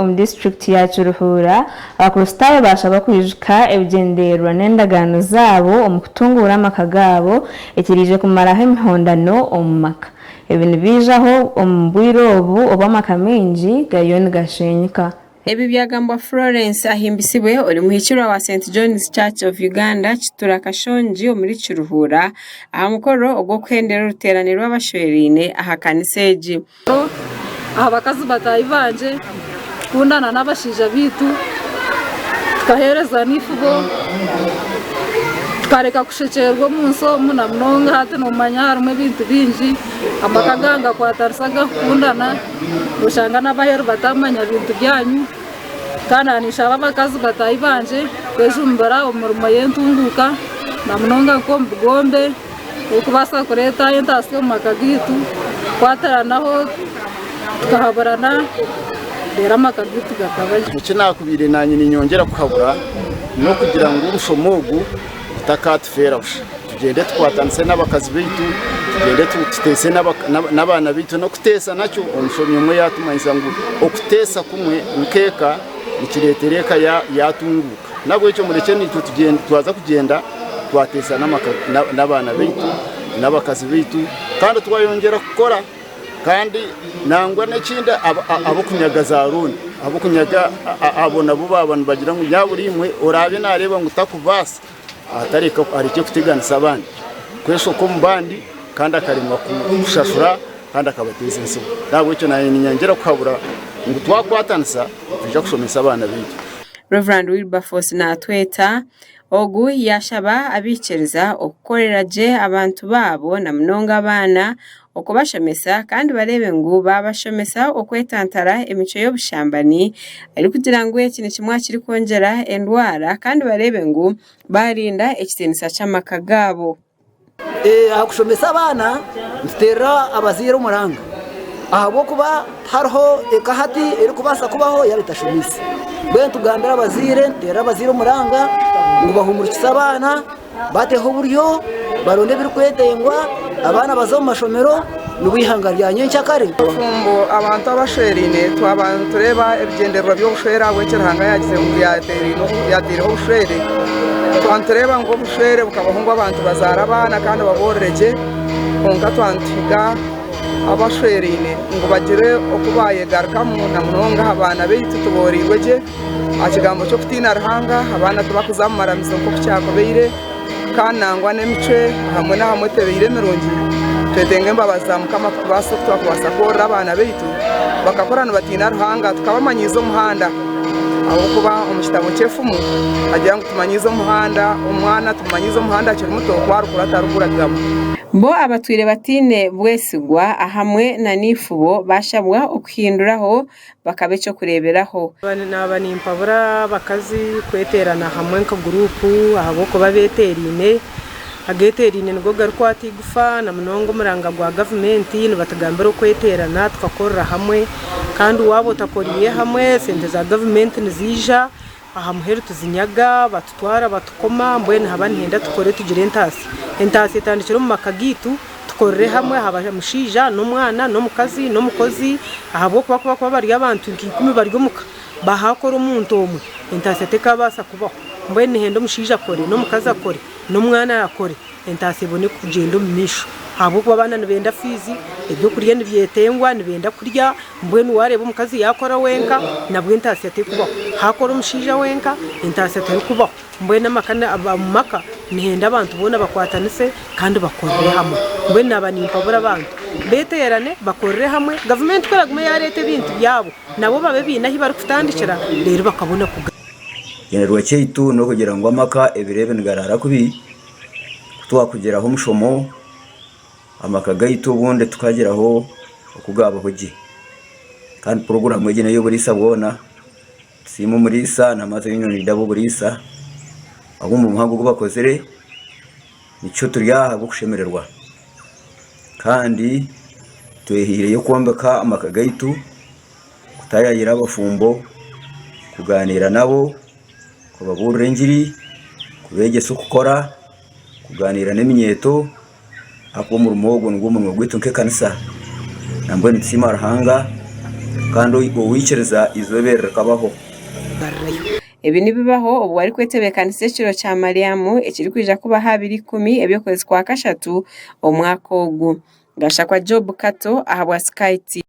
Omu disiturikiti ya Kiruhura, Abakristaayo baashabwa kwijuka ebigyendererwa n'endagaano zaabo omu kutunguura amaka gaabo, ekiraije kumaraho emihondano omu maka. Ebi nibaijaho omu bwire obu obu amaka maingi gariyo nigasheenyuka. Ebi byagambwa Florence Ahimbisibwe ori muhikirwa wa St John's Church of Uganda Kitura Kashongi omuri Kiruhura aha mukoro ogw'okuhendera oruteerane rw'abashweraine aha kanisa egi. Aha bakazi bataahi bangye, kukundana n'abashaija baitu, tukaheerezana eifubo, tukareka kushekyererwa omu nsi omu na munonga hati noomanya harimu ebintu bingi, amaka gaawe ngakwatanisa garikukundana, nooshanga n'abaheru bataamanya bintu byanyu, kandi na ninshaba abakazi bataahi bangye kwejumbira omu mirimo y'entunguuka na munonga nk'omu bugombe. Okubaasa kureeta entaasya omu maka gaitu, kukwatiranaho tukahaburana reero amaka gaitu gakaba gye. Eki naakubaire naanye niinyongyera kuhabura n'okugira ngu omushomo ogu gutakaatufeera busha, tugyende tukwatanise n'abakazi baitu, tugyende tuteese n'abaana baitu. N'okuteesa nakyo omushomi omwe yaatumanyisa ngu okuteesa kumwe nk'eka nikireetera eka yaatunguuka. Nahabwekyo murekye naitwe twaza kugyenda twateesa n'abaana baitu n'abakazi baitu kandi twayongyera kukora kandi nangwa n'ekindi ab'okunyaga za rooni ab'okunyaga abo nabo baaba nibagira ngu nyaaburiimwe oraabe naareeba ngu takubaasa atareka arekye kuteganisa abandi kweshoka omu bandi kandi akaremwa kushashura kandi akabateeza entsibo. Nahabwekyo naanye ninyangira kuhabura ngu twakwatanisa nitwija kushomesa abaana baitu. Rev. Wilberforce Naatweta, ogu yaashaba abaikiriza okukorera gye abantu baabo na munonga abaana okubashomesa kandi bareebe ngu baabashomesa okwetantara emicwe y'obushambani arikugira ngu eki ni kimwe aha kirikwongyera endwara kandi bareebe ngu baarinda ekitiinisa ky'amaka gaabo. Aha kushomesa abaana nituteerera abazaire omuranga ahabw'okuba tihariho eka hati erikubaasa kubaho yaaba etashomiise. Mbwenu nitugambira abazaire nituteerera abazaire omuranga ngu bahumurikise abaana, bateho oburyo, baronde ebirikwetengwa, abaana baze omu mashomero. Nibwo eihanga rya nyenkyakare. Ngu abantu abashweraine twaba nitureeba ebigyendererwa by'obushwere ahabw'okuba eki Ruhanga yaagize ngu yaataireho obushwere, twaba nitureeba ngu obushwere bukabaho ngu abantu bazaare abaana kandi baboorore gye, kwonka twaba nituhiga abashweraine ngu bagire oku baayegarukamu na munonga aha baana baitu tubooreirwe gye. Aha kigambo ky'okutiina Ruhanga, abaana tibakuza omu maramizo nk'oku kyakubaire, kandi nangwa n'emicwe ahamwe n'ahamwe tebaire emirungi. Twetenga embabazi za Mukama kutubaasa oku twakubaasa kworora abaana baitu bakakura nibatiina Ruhanga tukabamanyiiza omuhanda. Ahabw'okuba omu kitabo ky'efumu hagira ngu tumanyiize omuhanda, omwana tumumanyiize omuhanda akiri muto ku arikura atariguragamu. Bo abatwire bataine bwesigwa ahamwe na naifubo bashabwa okuhinduraho bakaba eky'okureeberaho. Naaba nimpabura abakazi kweteerana hamwe nka guruupu ahabw'okuba beeteeraine. Ageeteeraine nigo garikwata eigufa na munonga omuranga gwa gavumenti nibatugambira okweteerana tukakorera hamwe kandi waaba otakoriire hamwe sente za gavumenti niziija. Aha muheru tuzinyaga, batutwara batukoma, mbwenu haba nihenda tukore tugire entaasya. Entaasya etandikire omu maka gaitu, tukorere hamwe aha mushaija n'omwana n'omukazi n'omukozi ahabw'okuba ku bakuba bari abantu nka ikumi bari omu ka, bahaakora omuntu omwe, entaasya tekaabaasa kubaho. Mbwenu nihenda omushaija akore n'omukazi akore n'omwana akore Entaasya ebone kukugyenda omu maisho ahabw'okuba abaana nibenda fiizi, eby'okurya nibyetengwa nibenda kurya mbwenu waareeba omukazi yaakora wenka nabwo entaasya terikubaho, haakora omushaija wenka entaasya terikubaho mbwenu amaka omu maka nihenda abantu boona bakwatanise kandi bakorere hamwe. Mbwenu naaba nimpabura abantu beeteerane bakorere hamwe gavumenti ku eraagume yaareeta ebintu byabo nabo babe baine ahu barikutandikira reero bakabona kugaruka. Ekigendererwa kyaitu n'okugira ngu amaka ebiro ebi nigaraara kubi. kutwakugyiraho omushomo amaka gaitu obundi tukagyiraho oku gabaho gye kandi puroguramu egyo n'ey'oburiisa bwona tusiime omuriisa na Mother Union Leader ab'oburiisa ahu omu muhango ogu bakozire nikyo turi aha ahabw'okushemererwa kandi twehaireyo kwombeka amaka gaitu kutayaayira abafumbo kugaaniira nabo kubabuurira engiri, kubeegyesa okukora, kugaaniira n'eminyeeto ahabw'okuba omurimo ogwo nigwo murimo gwaitu nk'ekanisa nambwenu nitusiima Ruhanga kandi owaikiriza eizooba eri rikabaho. Ebi nibibaho obu barikwetebeekanisa ekiro kya Malyamu ekirikwija kuba aha abiri ikumi eby'okwezi kwa kashatu omwaka ogu. Gashakwa Job Kato ahabwa Sky TV.